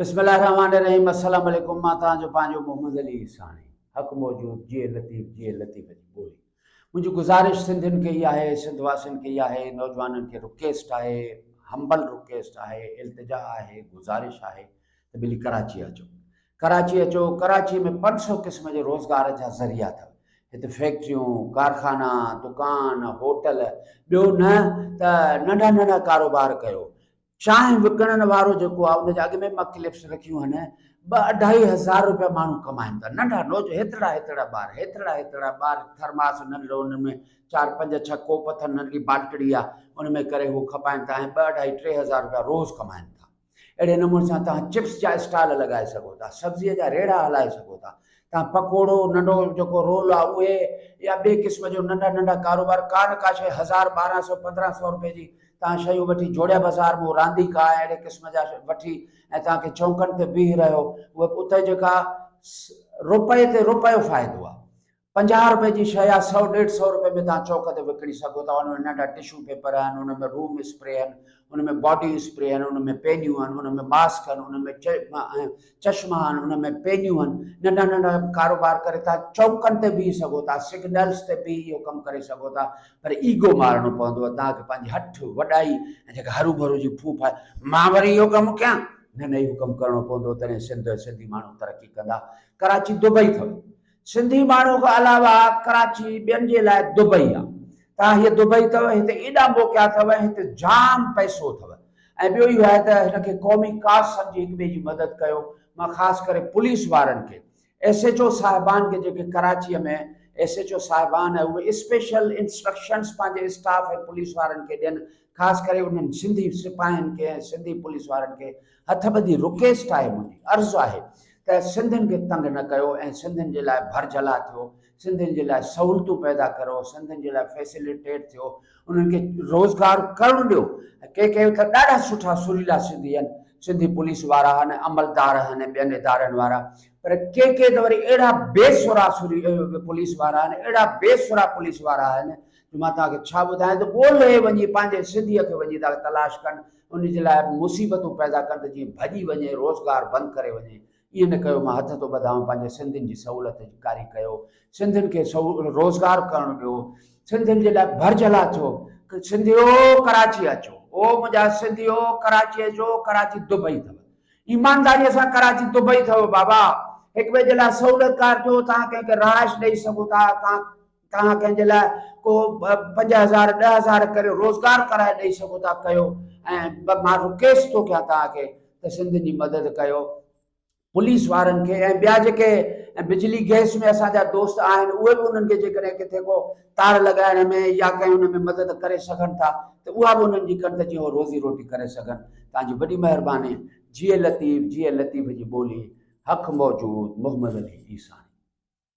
بسم الله الرحمٰن الرحيم السلام عليڪم مان توهان جو پنهنجو محمد علي عيساڻي حق موجود جي لطيف جي لطيف جي ٻولي منهنجي گذارش سنڌين کي ئي آهي سنڌ واسين کي ئي آهي نوجوانن کي رڪيسٽ آهي همبل رڪيسٽ آهي التجا آهي گذارش آهي ته ڀلي ڪراچي اچو ڪراچي اچو ڪراچي ۾ پنج سو قسم جي روزگار جا ذريعا اٿو هت فيڪٽريون ڪارخانا دڪان هوٽل ٻيو نه ته ننڍا ننڍا ڪاروبار ڪيو چانهه وڪڻڻ وارو جيڪو آ ان جي اڳ ۾ به ڪلپس رکيون آهن، ٻه اڍائي هزار روپيا ماڻهو ڪمائين ٿا، ننڍا نوج هيترڙا هيترڙا ٻار، هيترڙا هيترڙا ٻار، ٿرماس ننڍڙو ان ۾ چار پنج ڇهه ڪوپ اٿن، ننڍڙي بالٽڙي آ، ان ۾ ڪري هو کپائين ٿا ۽ ٻه اڍائي ٽي هزار روپيا روز ڪمائين ٿا. اهڙي نموني سان توهان چپس جا اسٽال لڳائي سگهو ٿا، سبزيء جا ريڙها هلائي سگهو ٿا، تان پڪوڙو ننڍو جيڪو رول آ اهي يا ٻي قسم جو ننڍا ننڍا ڪاروبار ڪا نه ڪا شيء هزار ٻارهن سئو پندرهن سئو روپئي جي تان شيون وٺي جوڙيا بازار مون رانديڪا ۽ اهڙي قسم جا وٺي ۽ تان کي چونڪن تي بيهي رهيو اهي اتي جيڪا روپئي تي روپيو فائدو آ پنجاهه روپئي جي شيء آ سئو ڏيڍ سئو روپئي ۾ تان چونڪ تي وڪڻي سگهو ٿا ان ۾ ننڍا ٽشو پيپر آهن ان ۾ روم اسپري آهن ان ۾ باڊي اسپري آهن ان ۾ پينيون آهن ان ۾ ماسڪ آهن ان ۾ چشما آهن، ان ۾ پينيون آهن، ننڍا ننڍا ڪاروبار ڪري ٿا، چوڪن تي بيهي سگهو ٿا، سگنلز تي بيهي اهو ڪم ڪري سگهو ٿا، پر ايگو مارڻو پوندو، توهان کي پنهنجي هٺ، وڏائي ۽ جيڪا هروڀرو جي ڦوڦ آهي، مان وري اهو ڪم ڪيان، نه نه اهو ڪم ڪرڻو پوندو، تڏهن سنڌ ۽ سنڌي ماڻهو ترقي ڪندا، ڪراچي دبئي اٿو، سنڌي ماڻهو کان علاوه ڪراچي ٻين جي لاء دبئي آ تان هيء دبئي اٿو هتي ايڏا موقعا اٿو ۽ هتي جام پئسو اٿو ۽ ٻيو اهو آهي ته هن کي قومي ڪاز سمجهي هڪ ٻئي جي مدد ڪيو مان خاص ڪري پوليس وارن کي ايس ايچ او صاحبان کي جيڪي ڪراچي ۾ ايس ايچ او صاحبان اهي اسپيشل انسٽرڪشنس پنهنجي اسٽاف ۽ پوليس وارن کي ڏين خاص ڪري انهن سنڌي سپاهين کي ۽ سنڌي پوليس وارن کي هٿ ٻڌي رڪيسٽ آهي منهنجي عرض آهي ته سنڌين کي تنگ نه ڪيو ۽ سنڌين جي لاء ڀرجهلا ٿيو سنڌين جي لاء سهولتون پيدا ڪريو سنڌين جي لاء فيسيليٽيٽ ٿيو انهن کي روزگار ڪرڻ ڏيو ڪي ڪي ته ڏاڍا سٺا سريلا سنڌي آهن سنڌي پوليس وارا ۽ عملدار ۽ ٻين ادارن وارا پر ڪي ڪي ته وري اهڙا بي سرا سري پوليس وارا آهن اهڙا بي سرا پوليس وارا آهن جو مان توهان کي ڇا ٻڌايان ته ڳولهي وڃي پنهنجي سڌيء کي وڃي ته تلاش ڪن، ان جي لاء به مصيبتون پيدا ڪن ته جيئن ڀڄي وڃي، روزگار بند ڪري وڃي. ائين نه ڪيو، مان هٿ ٿو ٻڌانء پنهنجي سنڌين جي سهولت ڪاري ڪيو، سنڌين کي روزگار ڪرڻ ڏيو، سنڌين جي لاء ڀرجهلا ٿيو، سنڌيو ڪراچي اچو، او منهنجا سنڌيو ڪراچي اچو، ڪراچي دبئي اٿو، ايمانداريء سان ڪراچي دبئي اٿو بابا، هڪ ٻئي جي لاء سهولتڪار ٿيو، توهان ڪنهن کي رهائش ڏئي سگهو ٿا، توهان توهان ڪنهن جي لاء ڪو پنج هزار ڏهه هزار ڪري روزگار ڪرائي ڏئي سگهو ٿا ڪيو ۽ مان رڪويسٽ ٿو ڪيان توهان کي ته سنڌين جي مدد ڪيو پوليس وارن کي ۽ ٻيا جيڪي بجلي گيس ۾ اسان جا دوست آهن اهي به انهن کي جيڪڏهن ڪٿي ڪو تار لڳائڻ ۾ يا ڪنهن ان ۾ مدد ڪري سگهن ٿا ته اها به انهن جي ڪن ته جيئن هو روزي روٽي ڪري سگهن توهان جي وڏي مهرباني جيئي لطيف جيئي لطيف جي ٻولي حق موجود محمد علي عيساڻي.